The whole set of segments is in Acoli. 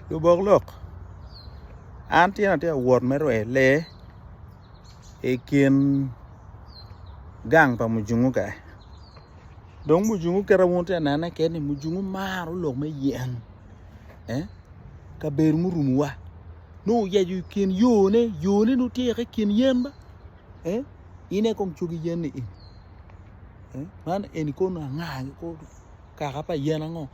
Lubok lok, an tye atye ka wot me rweyo lee i kin gang pa mujungu kany dong mujungu kit ma atye ka nene kit ni mujungu maro lok me yen kabedo murumo wa nongo oyeco i kin yo ne, yo ne nongo tye i kin yen ma in aye kong cogi yen ni eni, man eni kono anga kaka pa yen ango.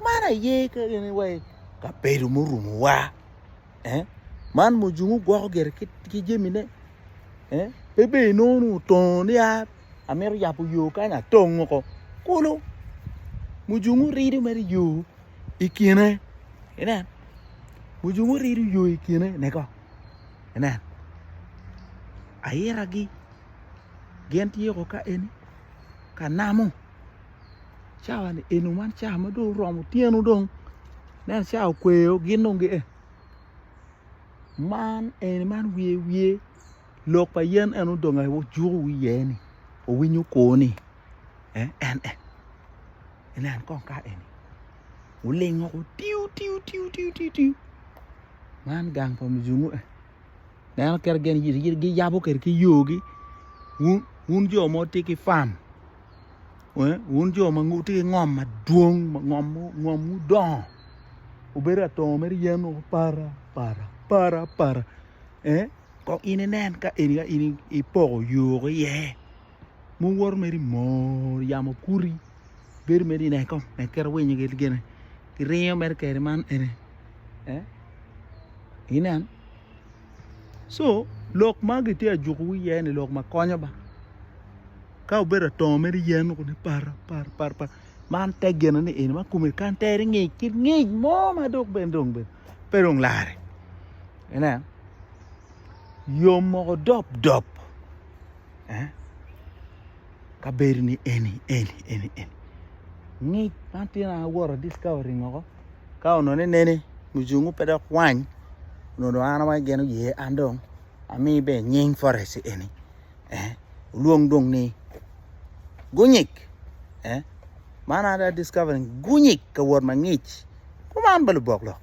Man aye kene wa i kabedo murumowa. Eh? Man mujungu gwoko gire ki, ki jamine. Eh? Pe bedo inongo nongo otongo ni a, amito yabo yo kany atongo ko. Kulu. Mujungu rido mere yo i kine. Inen. Mujungu rido yo i kine. Neko. Inen. Ayiragi. Gin tye ko ka eni. Ka namo. cawani eno man cawa ma dong oromo otyeno dong ineno cawa okweyo gin dong gia man eni man wiye wiye lok pa yen en aye dong ojuko wiye iye-ni owinyo kwo-ni en en inen kong ka eni olingo otiyo tiyo tiyo tiyo man gang pa muzungu-ni. Ineno kit ma gin giyabo kwede ki yogi wun jo ma wutye ki fam wun jo ma wutye ki ngom madwong ngomwu dongo obedo atongo mere yen woko para para para para kong in inen ka eni ka in ipoko yogi iye. muwoto mere i mor yamo kuri bedo mere i neko nek kit ma winyo gine giringo mere kede man eni inen co lok ma gitye ka juko wi iye ni lok ma konyo ba ka obedo atongo mere yen mogo ni para para para para man te gin ni eni ma kome kany tere ngic ki ngic mo ma dok bene dong bene pe dong lare inen yom mogo dop dop eh ka bedo ni eni eni eni eni ngic man tino an awoto discovery ngoko ka onone nene mucungu pe dok wany onongo dong an awaco gin oye an dong ami be nying forest eni eh olwong dong ni gunyig eh man ada discovery gunyig ka wot mangic kuman ba lubok lok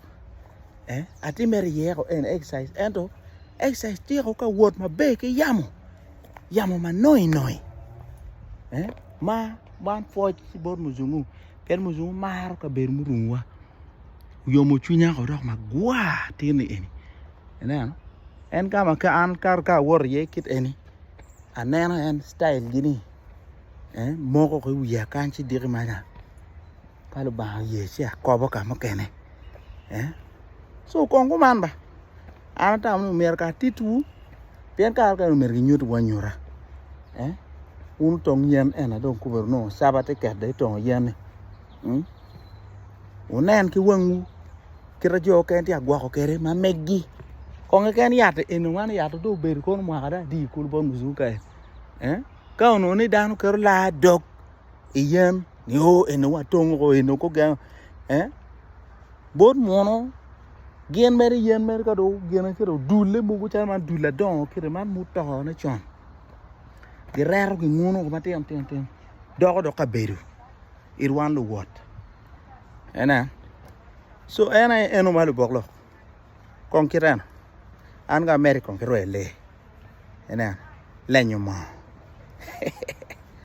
eh, atim mere yeko en exercise ento exercise tyeko ka wot maber ki yamo yamo ma noi noi eh ma man pwoc ki bot muzungu pien muzungu maro kabedo murunguwa oyomo cwinya ko dok magwa tini eni ineno en kama ka an kato ka awot iye kit eni aneno en style gini eh moko ki wiya kany ci diki maca Ka Lubanga oye ci akobo ka mukene eh so kong kuman ba an atamo ni myero kara titwu pien kare mukene myero ginyutwu anyuta eh wun otong yen ena dong kubedo nongo caba tye ket dong itongo yen-ni hmm? wunen ki wangwu kite jo mukene tye ka gwoko kwede ma meggi kong keken yat eni man yat dong obedo kono mwaka dong adi kulu bot muzuka-ni eh? ka onongo ni dano keto laa dog i yen ni o oh, eni watong o oh, eni kogeno eh bot muno gin mere yen mere ka do gene kede odulle mogo calo man dul adongo kede man mutone con gireto ginguno ko matino tino tino doko dok kabedo it wan luwot ene so en aye eno ma lubok lok kong kit eno an ka ameri kong kirweye lee ene lenyo moo